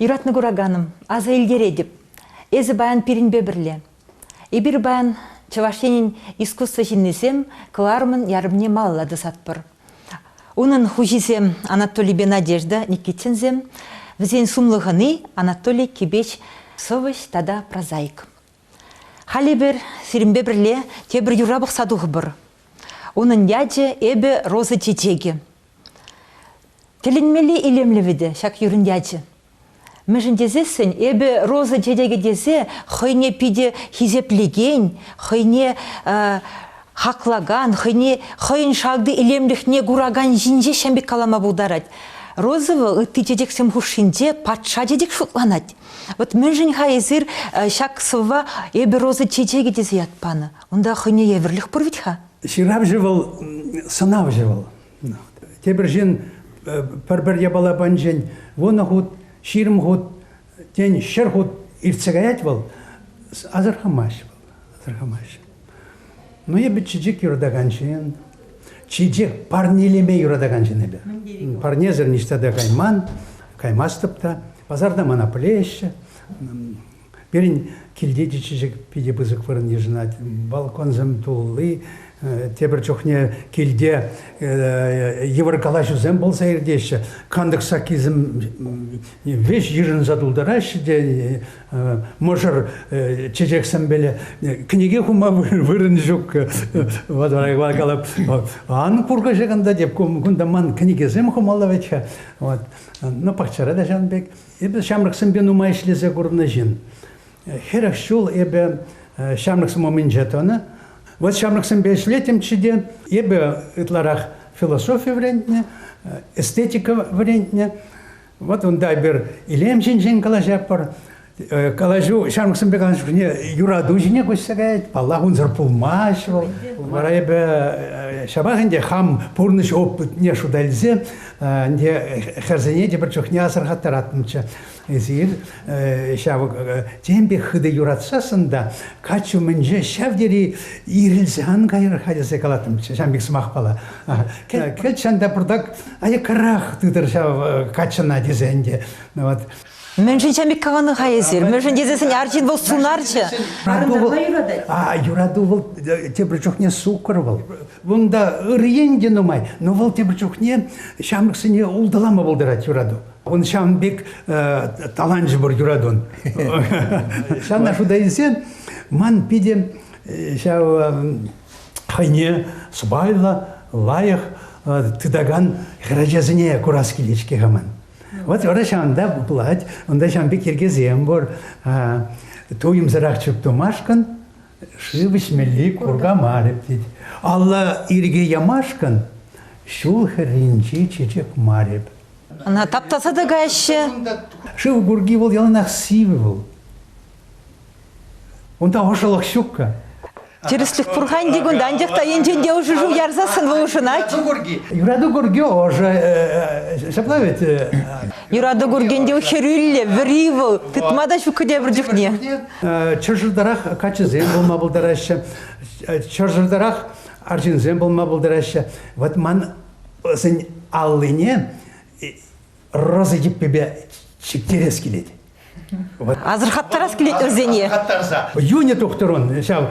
Юратнӑ кураканӑм, аса илтеретӗп, эсӗ паян пирӗнпе пӗрле. Эпир паян Чӑваш Енӗн искусство ҫыннисем кӑларӑмӑн ярӑмне малалла тӑсатпӑр. Унӑн хуҫисем Анатолийпе Надежда Никитинсем, вӗсен сумлӑ хӑни Анатолий Кибеч сӑвӑҫ тата прозаик. Халь эпир сирӗнпе пӗрле тепӗр юра пӑхса тухӑпӑр. Унӑн ячӗ эпӗ Роза чечекӗ. Тӗлӗнмелли илемлӗ вӗтӗ ҫак юрӑн ячӗ. Мӗншӗн тесессӗн эпӗ Роза чечекӗ тесе хӑйне питӗ хисеплекен, хӑйне хаклакан, хӑйне хӑйӗн шалти илемлӗхне куракан ҫинче ҫын пек калама пултарать. Розова ытти чечексем хушшинче патша чечек шутланать. Вот мӗншӗн-ха эсир э, ҫак сӑвва «Эпӗ роза чечекӗ» тесе ят панӑ? Унта хӑйне евӗрлӗх пур вӗт-ха? Ҫыравҫӑ вӑл, сӑнавҫӑ вӑл. Тепӗр ҫын э, пӗр-пӗр япала панчен вунӑ хут, ҫирӗм хут, тен, ҫӗр хут иртсе каять вӑл, асӑрхамасть вӑл. асӑрхамаҫҫӗ. Ну, эпӗ чечек юратакан ҫын, чечек парнелеме юратакан ҫын эпӗ. Парнесӗр ниҫта та кайман, каймастӑп та. Пасарта мана пӗлеҫҫӗ. Пирӗн килте те чечек питӗ пысӑк вырӑн йышӑнать. Балконсем тулли, тепӗр чухне килте йывӑр калаҫусем пулса иртеҫҫӗ. Кантӑк саккисем веҫ йышӑнса тултараҫҫӗ те мӑшӑр чечексемпеле кӗнеке хума вырӑн ҫук вот калап ан куркӑҫа кунта теп кунта ман кӗнекесем хумалла вӗт-ха вот ну пахчара та ҫавӑн пек эпӗ ҫамрӑксемпе нумай ӗҫлесе курнӑ ҫын хӗрӗх ҫул эпӗ ҫамрӑксем умӗнче тӑнӑ вот ҫамрӑксемпе ӗҫлетӗмччӗ те эпӗ ытларах философи вӗрентнӗ эстетика вӗрентнӗ Вот унта эпир илем ҫинчен калаҫатпӑр. Э, калаҫу ҫамрӑксемпе калаҫушне юрату ҫине куҫса каять. Паллах, унсӑр пулмасть вӑл. Вара эпӗ э, ҫапах ӗнтӗ хам пурнӑҫ опытне шута илсе ӗнтӗ хӗрсене те пӗр чухне асӑрхаттаратмччӗ. Эсир ҫав темпе хытӑ юратсассӑн та каччӑ умӗнче ҫав тери ирӗлсе ан кайӑр-ха тесе калаттӑм ҫав пек сӑмахпала. Кӗт ҫан та пуртак аяккарах тытӑр ҫав каччӑна тесе ӗнтӗ. Вот. Мӗншӗн Чамик кӑвӑнӑ-ха эсир? Мӗншӗн тесесен арҫын вӑл сунарҫӑ. Юрату юратать. А, юрату вӑл тепӗр чухне суккӑр вӑл. Унта ырьен те нумай, но вӑл тепӗр чухне ҫамрӑксене улталама пултарать юрату. Он ҫавӑн пек таланчӑпӑр юратун. Ҫавна шута илсен ман питӗ ҫав хӑйне сӑпайлӑ, лайӑх тытакан хӗрачасене курас килет-ҫке хаман. Вот вара ҫавӑнта пулать, унта ҫавӑн пек йӗркесем пур. Туйӑмсӑрах чуптумашкӑн шыв ӗҫмелли курка мар тет. Алла ирӗке ямашкӑн ҫул хӗрринчи чечек мар эп. Ӑна таптаса та каҫҫӗ. Шыв курки вӑл яланах сивӗ вӑл. Унта ӑшӑлӑх ҫук-ха. Тӗрӗслӗх пур-ха ӗнтӗ кунта, анчах та енчен те ӑшӑ шыв ярсассӑн вӑл ӑшӑнать. Юрату курки ӑшӑ. Ҫапла вӗт. Юрату куркин те хӗрӳллӗ, вӗри вӑл. Тытма та ҫук тепӗр чухне. Чӑрсӑртарах каччӑсем пулма пултараҫҫӗ. Чӑрсӑртарах арҫынсем пулма пултараҫҫӗ. Вот ман ӑсӗн аллине роза йӗппипе чиктерес килет. Асӑрхаттарас килет вӗсене. Асӑрхаттарса. Юнӗ тухтӑрун ҫав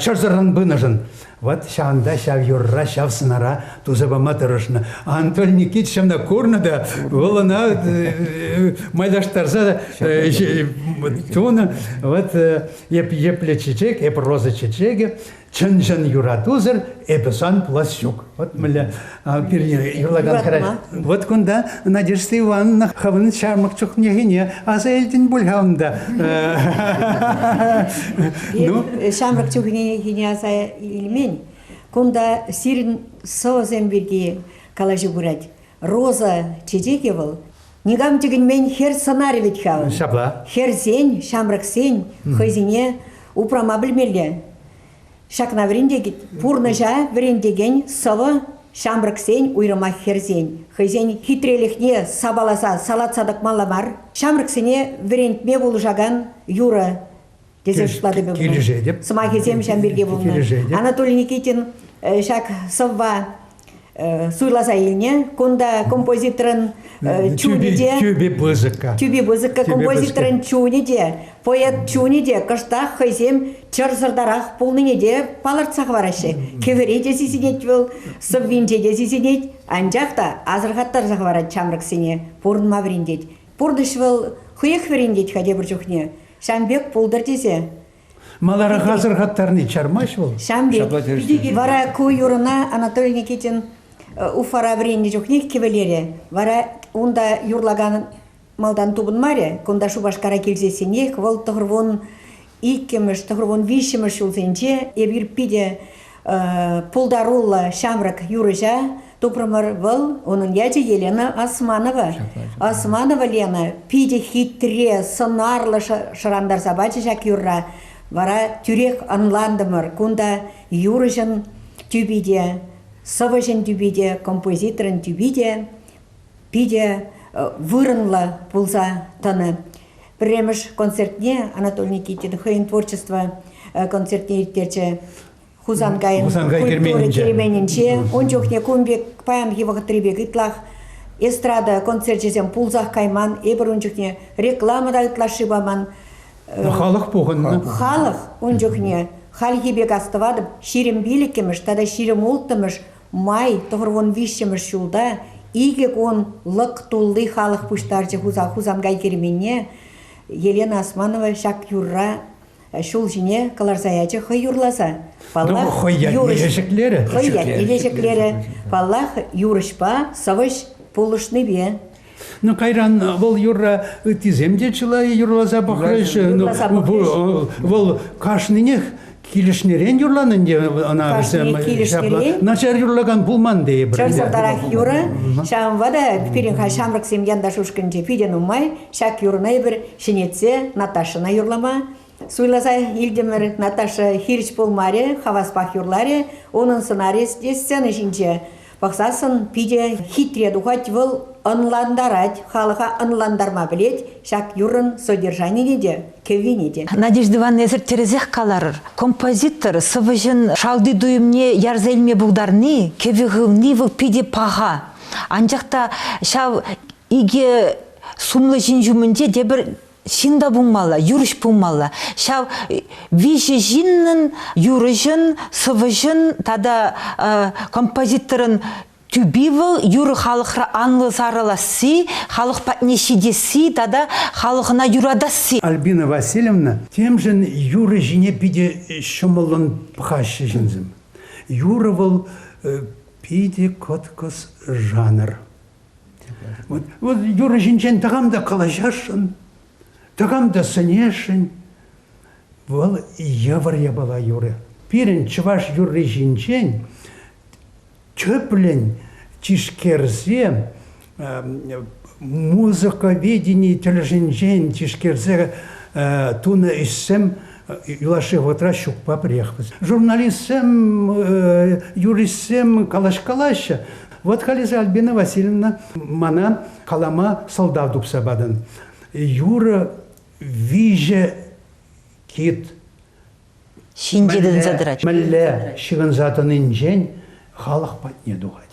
чӑрсӑррӑн пынӑшӑн вот ҫавӑнта ҫав юрра, ҫав сӑнара туса пама тӑрӑшнӑ. Анатолий Никитич ҫавна курнӑ та вӑл ӑна э, майлаштарса э, тунӑ. Вот э, епле чечек, эп роза чечекӗ, Чӑн-чӑн юратусӑр эпӗ сан пулас ҫук. Вот мӗнле пирне юрлакан хӗрача. Вот кунта Надежда Ивановна хӑвӑн ҫамрӑк чухнехине аса илтӗн пуль-ха унта. Ну? Ҫамрӑк чухнехине аса илмен. Кунта сирӗн сӑвӑсем пирки калаҫу пырать. Роза чечекӗ вӑл. Никам тӗкӗнмен хӗр сӑнарӗ вӗт ҫав. Ҫапла. Хӗрсен, ҫамрӑксен хӑйсене упрама пӗлмелле. Ҫакна вӗрентет пурнӑҫа вӗрентекен сӑвӑ ҫамрӑксен, уйрӑмах хӗрсен, хӑйсен хитрелӗхне сапаласа салатса тӑкмалла мар. Ҫамрӑксене вӗрентме пулӑшакан юрӑ тесе шутлатӑп эпӗ. Килӗшетӗп. Сӑмахӗсем ҫав пирки пулнӑ. Анатолий Никитин ҫак сӑвва суйласа илнӗ. Кунта композиторӑн чунӗ те... Тюби пысӑка. Тюби пысӑка композиторӑн чунӗ те, поэт чунӗ те кӑштах хӑйсем чӑрсӑртарах пулнине те палӑртса хӑвараҫҫӗ. Кӗвӗре те сисӗнет вӑл, сӑввинче те сисӗнет, анчах та асӑрхаттарса хӑварать ҫамрӑксене, пурӑнма вӗрентет. Пурнӑҫ вӑл хӑех вӗрентет-ха тепӗр чухне. Ҫам пек пултӑр тесе. Маларах асӑрхаттарни чармасть вӑл? Ҫам пек. Вара ку юрӑна Анатолий Никитин Э, Уфара вӗреннӗ чухнех кӗвӗлерӗ. Вара унта юрлакан малтан тупӑнмарӗ. Кунта Шупашкара килсессӗнех вӑл тӑхӑр вун иккӗмӗш, тӑхӑр вун виҫҫӗмӗш ҫулсенче эпир питӗ пултаруллӑ ҫамрӑк юрӑҫа тупрӑмӑр вӑл унӑн ячӗ Елена Османова Османова Лена питӗ хитре сӑнарлӑ шӑрантарса пачӗ ҫак юрра вара тӳрех ӑнлантӑмӑр кунта юрӑҫӑн тӳпи те сӑвӑҫӑн тӳпи те композиторӑн тӳпи те питӗ вырӑнлӑ пулса тӑнӑ Пӗрремӗш концертне Анатолий Никитин хӑйӗн творчество концертне ирттерчӗ. Хусанкайӑн Хусанкай культура керменӗнче. Ун чухне кун пек, паянхи вӑхӑтри пек ытлах эстрада концерчӗсем пулсах кайман. Эпир ун чухне реклама та ытлашши паман. Халӑх пухӑннӑ. Халӑх ун чухне хальхи пек астӑватӑп, ҫирӗм пилӗккӗмӗш тата ҫирӗм улттӑмӗш Май тӑхӑрвун виҫҫӗмӗш ҫулта икӗ кун лӑк тулли халӑх пуҫтарчӗ Хусанкай керменне. Елена Османова ҫак юрра ҫул ҫине кӑларса ячӗ хӑй юрласа. Паллах, хӑй ятне ҫӗклерӗ. Хӑй ятне ҫӗклерӗ. Паллах, юрӑҫпа сӑвӑҫ пулӑшнипе. Ну, кайран вӑл юрра ыттисем те чылай юрласа пӑхраҫҫӗ. Ну, вӑл кашнинех килӗшнӗрен юрланӑн те ӑна вӗсем ҫапла начар юрлакан пулман тейӗпӗр. Ҫав сӑртарах юрӑ, ҫавӑнпа та пирӗн ҫамрӑксем янташ ушкӑнӗнче питӗ нумай ҫак юрӑна эпир ҫӗнетсе Наташӑна юрлама, Суйласа илтӗмӗр, Наташа хирӗҫ пулмарӗ, хаваспах юрларӗ унӑн сӑнарӗ сцена ҫинче. Пӑхсассӑн питӗ хитре тухать вӑл, ӑнлантарать, халӑха ӑнлантарма пӗлет ҫак юррӑн содержанине те, кӗввине те. Надежда Ивановна, эсир тӗрӗсех каларӑр. Композитор сӑвӑҫӑн шалти туйӑмне ярса илме пултарни, кӗвӗ хывни вӑл питӗ паха. Анчах та ҫав икӗ сумлӑ ҫын ҫумӗнче тепӗр ҫын та пулмалла, юрӑҫ пулмалла. Ҫав виҫӗ ҫыннӑн юрӑҫӑн, сӑвӑҫӑн тата композиторӑн тӳпи вӑл юрӑ халӑхра анлӑ сарӑласси, халӑх патне ҫитесси тата халӑхӑна юратасси. Альбина Васильевна темшӗн юрӑ ҫине питӗ ҫӑмӑллӑн пӑхаҫҫӗ ҫынсем. Юрӑ вӑл питӗ кӑткӑс жанр. Вот, вот юрӑ ҫинчен тӑкам та калаҫасшӑн, тӑкам та сӗнесшӗн. Вӑл йывӑр япала юрӑ. Пирӗн чӑваш юрри ҫинчен тӗплӗн тишкерсе музыковедени тӗлӗшӗнчен тишкерсе тунӑ ӗҫсем юлашки вӑхӑтра ҫукпа пӗрех. Журналистсем, юристсем калаҫ-калаҫҫӗ, Вот халӗ Альбина Васильевна мана калама сӑлтав тупса патӑн. Юрӑ виҫӗ кит. Ҫын ҫыхӑнса тӑрать. Мӗнле ҫыхӑнса тӑнинчен халӑх патне тухать.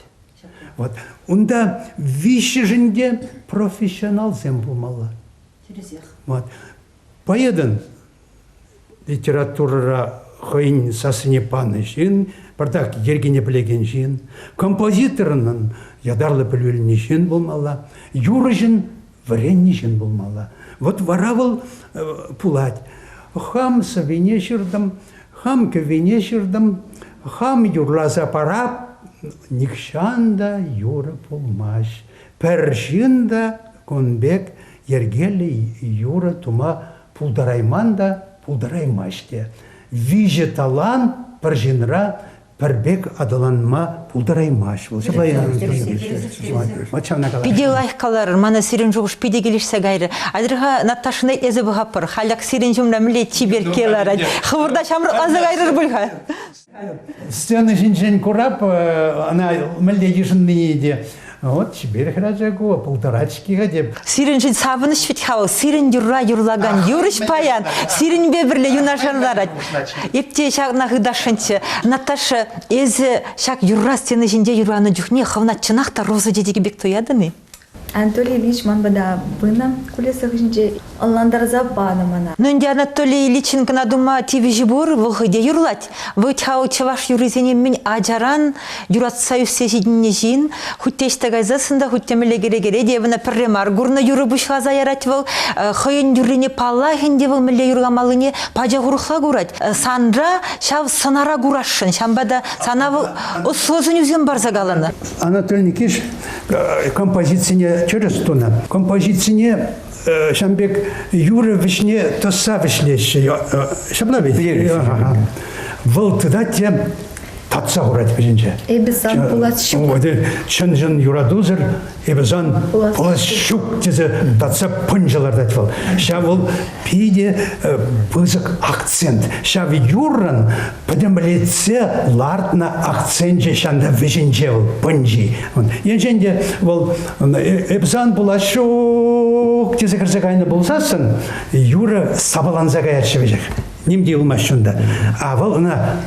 Вот. Унта виҫҫӗшӗн те профессионалсем пулмалла. Тӗрӗсех. Вот. Поэтӑн литературӑра хӑйӗн сассине панӑ ҫын, пӗртак йӗркене пӗлекен ҫын, композиторӑнӑн ятарлӑ пӗлӳ илнӗ ҫын пулмалла, юрӑҫӑн вӗреннӗ ҫын пулмалла. Вот вара вӑл пулать. Хам сӑвине ҫыртӑм, хам кӗввине ҫыртӑм, хам юрласа парап, нихҫан та юрӑ пулмасть. Пӗр ҫын та кун пек йӗркеллӗ юрӑ тума пултарайман та, пултараймасть те. Виҫӗ талант пӗр ҫынра пӗр пек аталанма пултараймасть вӑл. Ҫапла Питӗ лайӑх калар, мана сирӗн шухӑш питӗ килӗшсе кайрӗ. Атьӑр-ха, Наташӑна эсӗ пӑхатпӑр, халях сирӗн ҫумра мӗнле чиперкке ларать. Хӑвӑрта ҫамрӑкланса кайрӑр пуль-ха. Сцена ҫинчен курап, она мӗнле йышӑннине те вот теперь храчаку, полторачки хотя Сирӗншӗн савӑнӑҫ вӗт-ха вӑл, сирӗн юрра юрлакан юрӑҫ паян сирӗнпе пӗрле юнашар ларать. Эп те ҫакна хыташшӑнччӗ. Наташа, эсӗ ҫак юрра сцена ҫинче юрланӑ чухне хӑвна чӑнах та роза тетӗкӗ пек туятӑн-и? Анатолий Ильич ман пата пынӑ кулеса хыҫӗнче ӑнлантарса панӑ мана. Ну ӗнтӗ Анатолий Ильичӑн кӑна тума тивӗҫӗ пур, вӑл хӑй те юрлать. Вӑт-ха ав чӑваш юррисене мӗн ачаран юратса ӳссе ҫитӗннӗ ҫын. Хуть те ӑҫта кайсассӑн та, хуть те мӗнле кӗрекере те ӑна пӗрре мар курнӑ юрӑ пуҫласа ярать вӑл. Хӑйӗн юррине паллах ӗнтӗ вӑл мӗнле юрламаллине пачах урӑхла курать. Санра ҫав сӑнара курасшӑн, ҫавӑнпа та сана вӑл ӑслӑ сӗнӳсем парса каланӑ. Анатолий Никитич э, композицине тӗрӗс тунӑ. Композицине э, ҫам пек юрӑ вӗҫне тӑсса вӗҫлеҫҫӗ. Ҫапла вӗт? Вӑл тытать те татса хурать вӗҫӗнче. Эпӗ сан пулас ҫук. Чӑн-чӑн юратусӑр эпӗ сан пулас ҫук тесе татса пӑнчӑ лартать вӑл. Ҫав вӑл питӗ э, пысӑк акцент. Ҫав юррӑн пӗтӗмлетсе лартнӑ акценчӗ ҫанта вӗҫӗнче вӑл пӑнчи. Енчен те вӑл э, эпсан пулаҫҫук тесе кӗрсе кайнӑ пулсассӑн юрӑ сапаланса каяҫҫӗ веҫех. Ним те юлмасть унта. А вӑл ӑна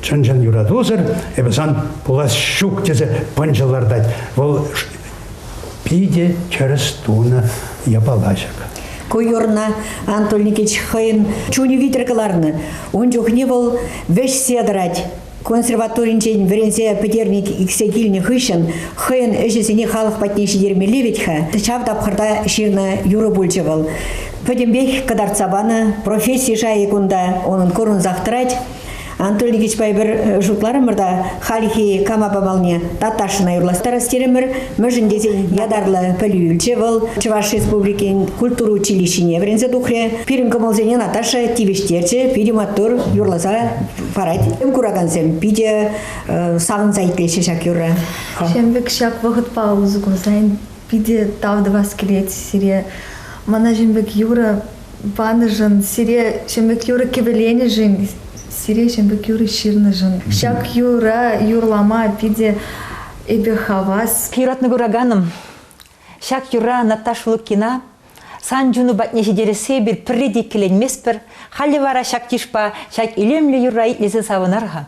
чӑн-чӑн юратусӑр эпасан пулас ҫук тесе пӑнчӑ лартать. Вӑл Питӗ тӗрӗс тунӑ япалаҫӑк. Ку юрна Анатолий Никитич хӑйӗн чунӗ витӗр кӑларнӑ. Ун чухне вӑл вӗҫсе тӑрать. Консерваторинчен вӗренсе пӗтерник иксе килнӗ хыҫҫӑн хӑйӗн ӗҫӗсене халӑх патне ҫитермелли вӗт-ха. Ҫав тапхӑрта ҫырнӑ юрӑ пулчӗ вӑл. Пӗтӗмпех кӑтартса панӑ професси шайӗ кунта унӑн курӑнсах тӑрать. Анатолий Ильичпа эпир э, шутларӑмӑр та хальхи кама памалне Таташина юрластарас терӗмӗр. Мӗншӗн тесен ятарлӑ пӗлӳ илчӗ вӑл. Чӑваш Республикин культура училищине вӗренсе тухрӗ. Пирӗн кӑмӑлсене Наташа тивӗҫтерчӗ. Питӗ маттур юрласа парать. Куракансем питӗ э, савӑнса итлеҫҫӗ ҫак юрра. Ҫембек ҫак вӑхӑтпа усӑ курса питӗ тав тӑвас килет сире. Мана ҫембек юрӑ панӑшӑн, сире ҫӗмӗк юрӑ кӗвӗленӗшӗн, сире ҫӗмӗк юрӑ ҫырнӑшӑн. Ҫак юра юрлама питӗ эпӗ хавас. Юратнӑ кураканӑм, ҫак юра Наташа Лукина сан чуну патне ҫитерессе эпир пӗрре те иккӗленместпӗр. Халӗ вара ҫак йышпа ҫак илемлӗ юрра итлесе савӑнар-ха.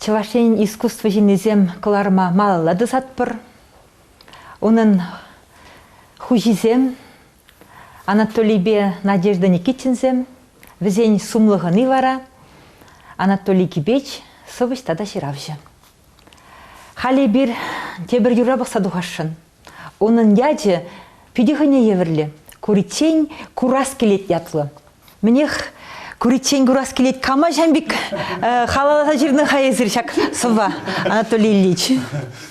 Чӑваш Енӗн искусство ҫыннисем кӑларӑма малалла тӑсатпӑр. Унӑн хуҫисем Анатолийпе Надежда Никитинсем, вӗсен сумлӑ хӑни вара Анатолий Кипеч, сӑвӑҫ тата ҫыравҫӑ. Халӗ эпир тепӗр юрра пӑхса тухасшӑн. Унӑн ячӗ питӗ хӑйне евӗрлӗ. Куриччен курас килет ятлӑ. Мӗнех, куриччен курас килет кама ҫам пек э, халаласа ҫырнӑ-ха эсир ҫак сӑвва, Анатолий Ильич?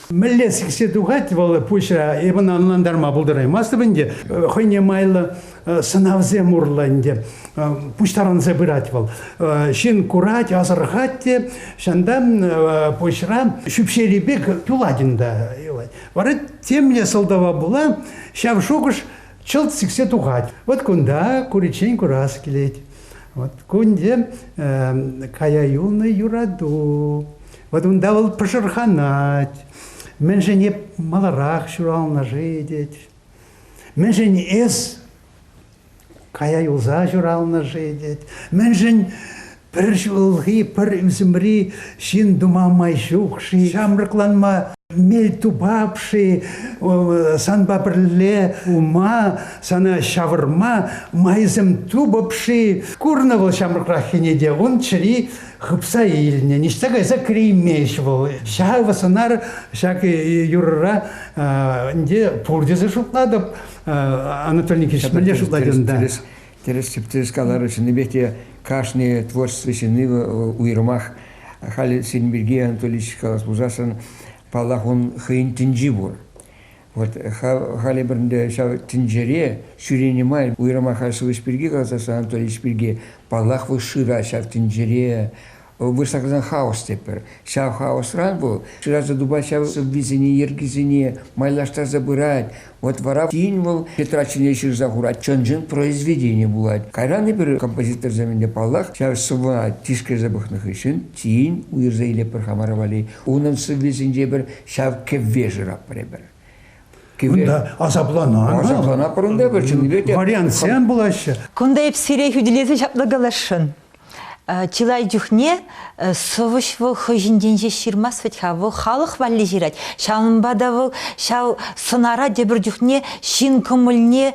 Мӗнле сиксе тухать вӑл пуҫа, эпӗ ӑнлантарма пултараймастӑп ӗнтӗ. Э, хӑйне майлӑ э, сӑнавсем урлӑ ӗнтӗ пуҫтарӑнса пырать вӑл. Ҫын курать, асӑрхать те, ҫантан пуҫра ҫӳпҫери пек юлать ӗнтӗ. Вара темле сӑлтава пула ҫав шухӑш чӑлт сиксе тухать. Вот кунта куриччен курас килет. Вот кунде э, кая юлнӑ юрату. Вот унта вӑл пӑшӑрханать. Мӗншӗн эп маларах ҫуралнӑ-ши тет. Мӗншӗн эс Кая юлса ҫуралнӑ-ши тет. Мӗншӗн пӗр ҫулхи, пӗр ӳсӗмри ҫын тума май ҫук-ши? Ҫамрӑкланма мел тупап-ши? Санпа пӗрле ума, сана ҫавӑрма майсем тупӑп-ши? Курнӑ вӑл ҫамрӑкраххине те, ун чӗри хыпса илнӗ, ниҫта кайса кӗреймест вӑл. Ҫав сӑнар ҫак юрӑра ӗнтӗ пур тесе шутлатӑп. Анатолий Никитич мӗнле шутлать унта? Тӗрӗс тӗп каларӑр чӑннипех те кашни творчество ҫынни уйрӑмах халь син пирки Анатолий калас пулсассӑн паллах он хӑйӗн тӗнчи пур. Вот халӗ пӗрінде ҫав тӗнчере ҫӳренӗ май уйрӑмах сывӑш пирки каласассӑн Анатолий пирки паллах вӑл шыра ҫав тӗнчере вырӑсла каласан хаос тетпӗр. Ҫав хаосран вӑл шыраса тупать ҫав сӑввисене, йӗркисене, майлаштарса пырать. Вот вара тин вӑл Петра чӗне ҫырса хурать, чӑн-чӑн произведение пулать. Кайран эпир композиторсем ӗнтӗ, паллах, ҫав сӑввӑна тишкерсе пӑхнӑ хыҫҫӑн тин уйӑрса илетпӗр хамӑра валли. Унӑн сӑввисенче пӗр ҫав кӗвве шыратпӑр эпир. Кунта асапланар. Асапланатпӑр унта пӗр чӑннипе те. Вариантсем пулаҫҫӗ. Кунта эп сире хӳтӗлесе ҫапла каласшӑн. чылай чухне сӑвӑҫ вӑл хӑй ҫинчен ҫеҫ ҫырмасть вӗт-ха, вӑл халӑх валли ҫырать. Ҫавӑнпа та вӑл ҫав сӑнара тепӗр чухне ҫын кӑмӑлне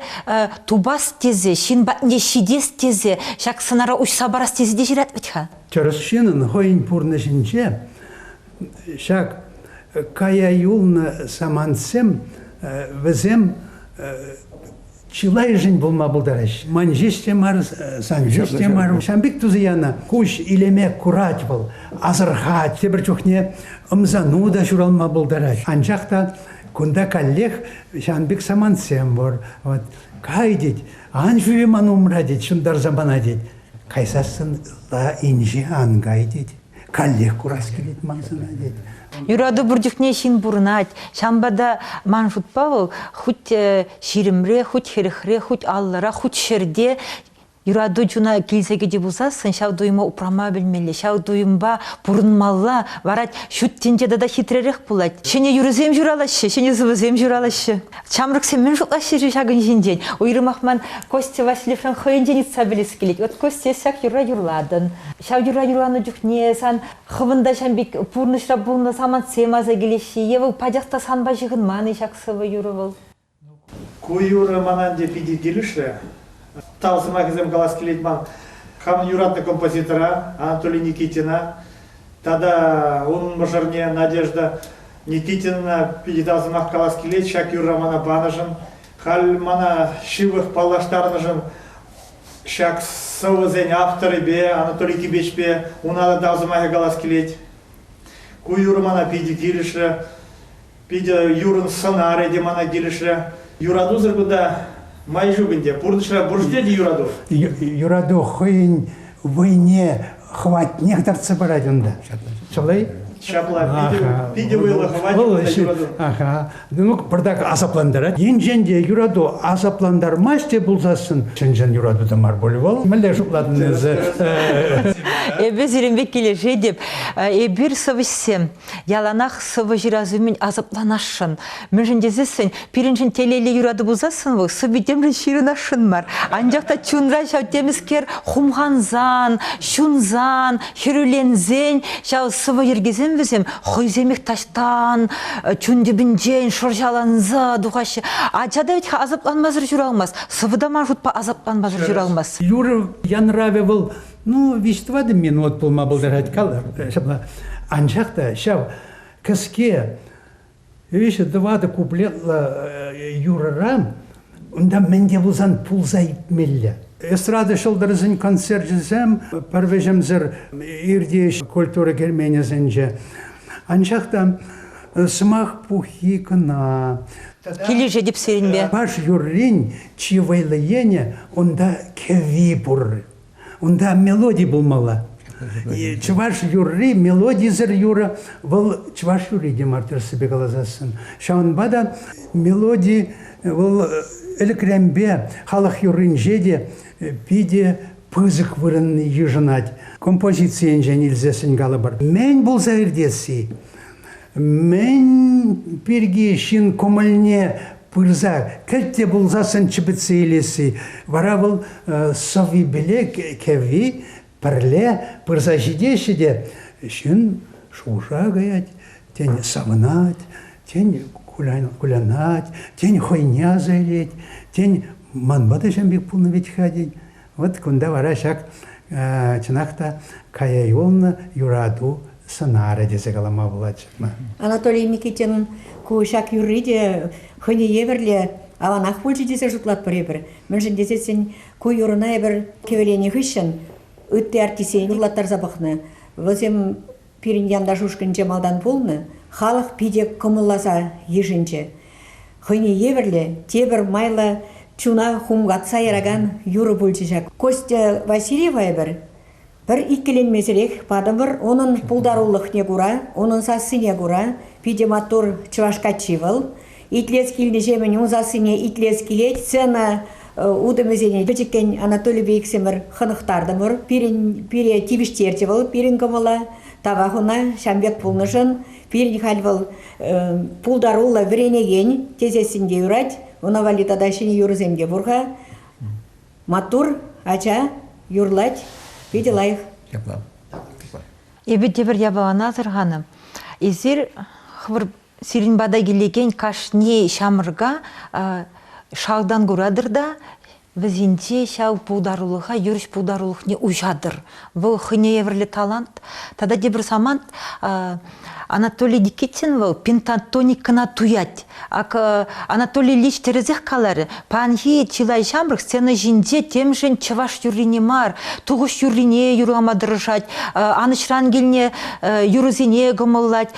тупас тесе, ҫын патне ҫитес тесе, ҫак сӑнара уҫса парас тесе те ҫырать вӗт-ха. Тӗрӗс ҫынӑн хӑйӗн пурнӑҫӗнче ҫак кая юлнӑ самантсем, вӗсем чылайӑшӗн пулма пултарать. Ман ҫеҫ те мар, сан ҫеҫ те мар. Ҫан пек туса янӑ куҫ илеме курать вӑл. Асӑрхать, тепӗр чухне ӑмсану та ҫуралма пултарать. Анчах та кунта каллех ҫан пек самантсем пур. Вот, кай тет, ан ҫӳре ман умра тет, ҫунтарса пана тет. Кайсассӑн ытла инҫе ан кай тет. каллех курас килет ман сана, тет. Юрату пур чухне ҫын пурӑнать. Ҫавӑнпа та ман шутпа вӑл хуть ҫирӗмре, хуть хӗрӗхре, хуть аллӑра, хуть ҫӗрте юрату чуна килсе кӗчӗ пулсассӑн ҫав туйӑма упрама пӗлмелле, ҫав туйӑмпа пурӑнмалла. Вара ҫут тӗнче тата хитререх пулать. Ҫӗнӗ юрӑсем ҫуралаҫҫӗ, ҫӗнӗ сӑвӑсем ҫуралаҫҫӗ. Ҫамрӑксем мӗн шутлаҫҫӗ-ши ҫакӑн ҫинчен? Уйрӑмах ман Костя Васильевшӑн хӑйӗнчен ыйтса пӗлес килет. От Костя, эс ҫак юрра юрлатӑн. Ҫав юрра юрланӑ чухне сан хӑвӑн та ҫam пек пурнӑҫра пулнӑ самантсем аса килеҫҫӗ. Е вӑл пачах та санпа ҫыхӑнман-и ҫак сӑвӑ-юрӑ вӑл? Ку юрӑ мана ӗнтӗ питӗ килӗшрӗ. Тав сӑмахӗсем калас килет ман хамӑн юратнӑ композитора Анатолий Никитина. Тата унӑн мӑшӑрне Надежда Никитина питӗ тав сӑмах калас килет ҫак юрра мана панӑшӑн. Халь мана ҫывӑх паллаштарнӑшӑн ҫак сӑвӑсен авторӗпе Анатолий Кибечпе уна та тав сӑмахӗ калас килет. Ку юрӑ мана питӗ килӗшрӗ. Питӗ юрӑн сӑнарӗ те мана килӗшрӗ. Юратусӑр кунта май ҫук ӗнтӗ. Пурнӑҫра пур-ҫке те юрату. Юрату хӑйӗн вӑйне хӑватнех тартса парать унта. Чылай. Ҫапла, питӗ, питӗ вӑйлӑ хӑват юрату. Аха. Ну, пӑртак асаплантарать. Енчен те юрату асаплантармасть те пулсассӑн, чӑн-чӑн юрату та мар пулӗ вӑл. Мӗнле шутлатӑн эсӗ? Эпӗ сирӗн пек килӗшетӗп. Эпир сӑвӑҫсем. яланах сывӑ ҫырас умӗн асапланасшӑн. Мӗншӗн тесессӗн пирӗншӗн телейлӗ юрату пулсассӑн вӑл сӑввитемшӗн ҫырӑнасшӑн мар. Анчах та чунра ҫав темӗскер хумхансан, ҫунсан, хӗрӳленсен ҫав сӑвӑ йӗркисем вӗсем хӑйсемех таҫтан чун тӗпӗнчен шӑрҫаланса тухаҫҫӗ. Ача та вӗт асапланмасӑр ҫуралмасть, сӑвӑ та ман шутпа асапланмасӑр ҫуралмасть. Юрӑ янравӗ вӑл Ну, виҫ-тӑватӑ минут пулма пултарать калӑр. Ҫапла. Анчах та ҫав кӗске виҫӗ-тӑватӑ куплетлӑ юрӑра унта мӗн те пулсан пулса иртмелле. Эстрада ҫӑлтӑрӗсен концерчӗсем пӗр вӗҫӗмсӗр иртӗҫ культура керменӗсенче. Анчах та сӑмах пуххи кӑна. Килӗшетӗп сирӗнпе. Чӑваш юррин чи вӑйлӑ енӗ унта кӗвви пур. Унта мелоди пулмалла. Чӑваш юрри, мелодисӗр юрӑ, вӑл чӑваш юрри те мар тӗрӗссипе каласассӑн. Ҫавӑнпа та мелоди вӑл ӗлӗкренпе, халӑх юрринче те питӗ пысӑк вырӑнне йышӑнать. Композицийӗнчен илсессӗн калӑпӑр, мӗн пулса иртесси, Мӗн пирки ҫын кӑмӑлне пырса кӗлте пулсассӑн чӗпӗтсе илесси. Вара вӑл сӑввипеле кӗвви пӗрле пырса ҫитеҫҫӗ те ҫын шуша каять, тен савӑнать, тен кулянать, тен хӑйне аса илет, тен ман ватӑҫӑм пек пулнӑ вӗт-ха тен. Вот кунта вара ҫак, чӑнах та, кая юлнӑ юрату сӑнарӗ тесе калама пулать-ма. Анатолий Никитинӑн ку ҫак юрри те хӑйне евӗрле аванах пулчӗ тесе шутлатпӑр эпир. Мӗншӗн тесен ку юрӑна эпир кӗвӗленӗ хыҫҫӑн ытти артистсене юрлаттарса пӑхнӑ. Вӗсем Пирӗн янташ ушкӑнче малтан пулнӑ халӑх питӗ кӑмӑлласа йышӑнчӗ. Хӑйне евӗрлӗ тепӗр майлӑ чуна хумхатса яракан юрӑ пулчӗ ҫак. Костя Васильева эпир пӗр иккӗленмесӗрех патӑмӑр. Унӑн пултарулӑхне кура, унӑн сассине кура питӗ маттур чӑваш каччи вӑл. Итлес килнӗҫемӗн ун сассине итлес килет. Сцена э, утӑмӗсене пӗчӗккӗн Анатолий Бейксемӗр хӑнӑхтартӑмӑр. Пирӗн пире тивӗҫтерчӗ вӑл пирӗн кӑмӑла. Тава хуна ҫам пек пулнӑшӑн пирӗн халь вӑл э, пултаруллӑ вӗренекен тесессин те юрать. Ӑна валли тата ҫӗнӗ юрӑсем те пур-ха. Маттур, ача, юрлать, питӗ лайӑх. Япла. Эпир тепӗр япалана асӑрханӑ. Эсир хӑвӑр Сирӗн пата килекен кашни ҫамрӑка шалтан куратӑр та вӗсенче ҫав пултарулӑха, юрӑҫ пултарулӑхне уҫатӑр. Вӑл хӑйне евӗрлӗ талант. Тата тепӗр самант Анатолий Никитин вӑл пентатоникӑна туять. Ак Анатолий Ильич тӗрӗсех каларӗ, паянхи чылай ҫамрӑк сцена ҫинче темшӗн чӑваш юррине мар, тухӑҫ юррине юрлама тӑрӑшать, анӑҫран килне юрӑсене кӑмӑллать.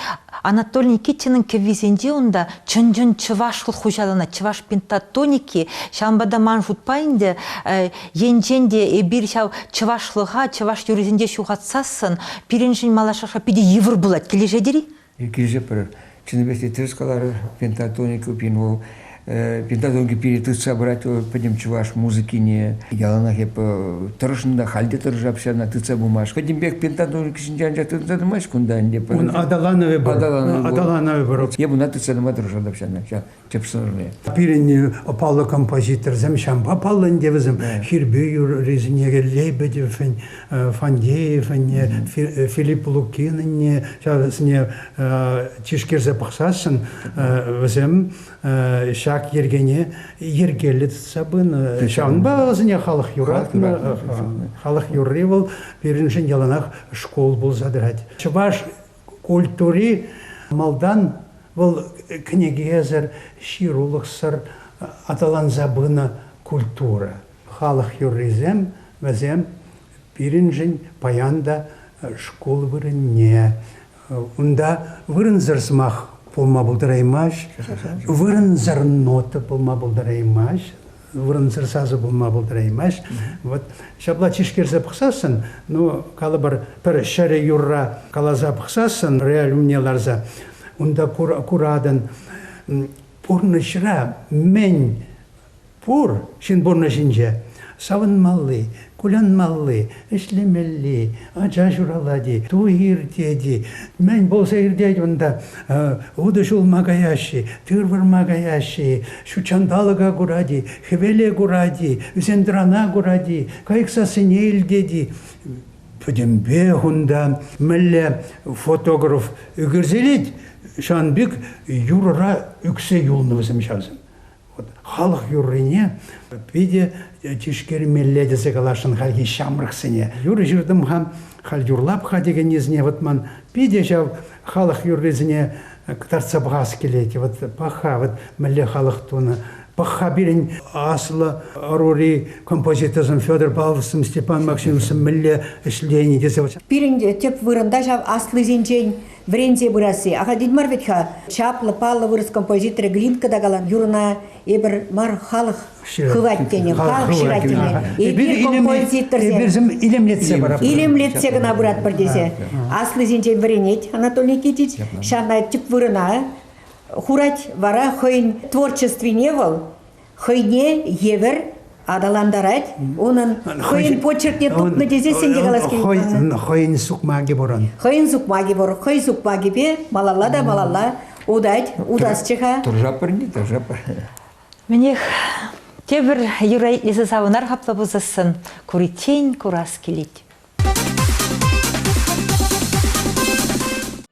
Анатолий Никитинӑн кӗввисенче унта чӑн-чӑн чӑвашлӑх хуҫаланать. Чӑваш пентатоники, ҫавӑнпа та ман шутпа ӗнтӗ, енчен те эпир ҫав чӑвашлӑха чӑваш юррисенче ҫухатсассӑн пирӗншӗн малашӑха питӗ йывӑр пулать. Килӗшетӗр-и? Килӗшетпӗр. Чӑннипех те тӗрӗс каларӑр, пентатоника пин вӑл педагоги перетытса пырать пӗтӗм чӑваш музыкине. Яланах эп тӑрӑшнӑ та, халь те тӑрӑшап ҫавна тытса пымаш. Пӗтӗмпех педагогика ҫинче анчах тытса тӑмасть кунта ӗнтӗ. Ун аталанӑвӗ пур. Аталанӑвӗ пур. Эп ӑна тытса тӑма тӑрӑшатӑп ҫавна, ҫав тӗп сӑрӑвӗ. Пирӗн паллӑ композиторсем, ҫавӑнпа паллӑ ӗнтӗ вӗсем. Хирпӳ юррисене Лейбедевӗн Фандеевӗнне, Филипп Лукинӑнне, ҫавсене тишкерсе пӑхсассӑн вӗсем ҫак йӗркене йӗркеллӗ тытса пынӑ. Ҫавӑнпа вӗсене халӑх юратнӑ. Халӑх юрри вӑл пирӗншӗн яланах шкул пулса тӑрать. Чӑваш культури малтан вӑл кӗнекесӗр, ҫырулӑхсӑр аталанса пынӑ культура. Халӑх юррисем вӗсем пирӗншӗн паян та шкул вырӑнне. Унта вырӑнсӑр сӑмах пулма пултараймасть, вырӑнсӑр нота пулма пултараймасть, вырӑнсӑр сасӑ пулма пултараймасть. Вот ҫапла тишкерсе пӑхсассӑн, ну, калӑпӑр, пӗр ҫӗрӗ юрра каласа пӑхсассӑн, реаль умне ларса, унта куратӑн, пурнӑҫра мӗн Пур ҫын пурнӑҫӗнче савӑнмалли, кулянмалли, ӗҫлемелли ача ҫуралать-и, туй иртет-и, мӗн пулса иртет унта, утӑ ҫулма каяҫҫӗ-и, тыр вырма каяҫҫӗ-и, ҫутҫанталӑка курать-и, хӗвеле курать-и, ӳсентӑрана курать-и, кайӑк сассине илтет-и, пӗтӗмпех унта мӗнле фотограф ӳкерсе илет, ҫавӑн пек юрӑра ӳксе юлнӑ вӗсем ҫавсем. халӑх юррине питӗ тишкермелле тесе каласшӑн хальхи ҫамрӑксене. Юрӑ ҫыртӑм-ха, халь юрлап-ха текен несене вӑтман, питӗ ҫав халӑх юррисене кӑтартса пӑхас килет. Вот пахха вот мӗнле халӑх тунӑ. Пахха пирӗн аслӑ ӑрури композиторсем Федор Павловсем, Степан Максимовсем мӗнле ӗҫлени тесе. Пирӗн те тӗп вырӑнта ҫав аслисенчен вӗренсе пырасси ахальтен мар вӗт-ха. Чаплӑ, паллӑ вырӑс композиторӗ Глинка та калан, Юрӑна эпир мар, халӑх хывать тенӗ, халӑх ҫырать тенӗ. Эпир композиторсем илемлетсе паратпӑр. Илемлетсе кӑна пыратпӑр тесе. Аслисенчен вӗренет Анатолий Никитич, ҫавна тӗп вырӑна хурать. Вара хӑйӗн творчествине вӑл хӑйне евӗр аталантарать унӑн хӑйӗн почеркне тупнӑ тесе сен те калас килет хӑйӗн сукмакӗ пурӑн хӑйӗн сукмакӗ пур хӑй сукмакӗпе малалла та малалла утать утасчӗ-ха тӑржапӑр не тӑржапӑр мӗнех тепӗр юра итлесе савӑнар хапла пусассӑн куриччен курас килет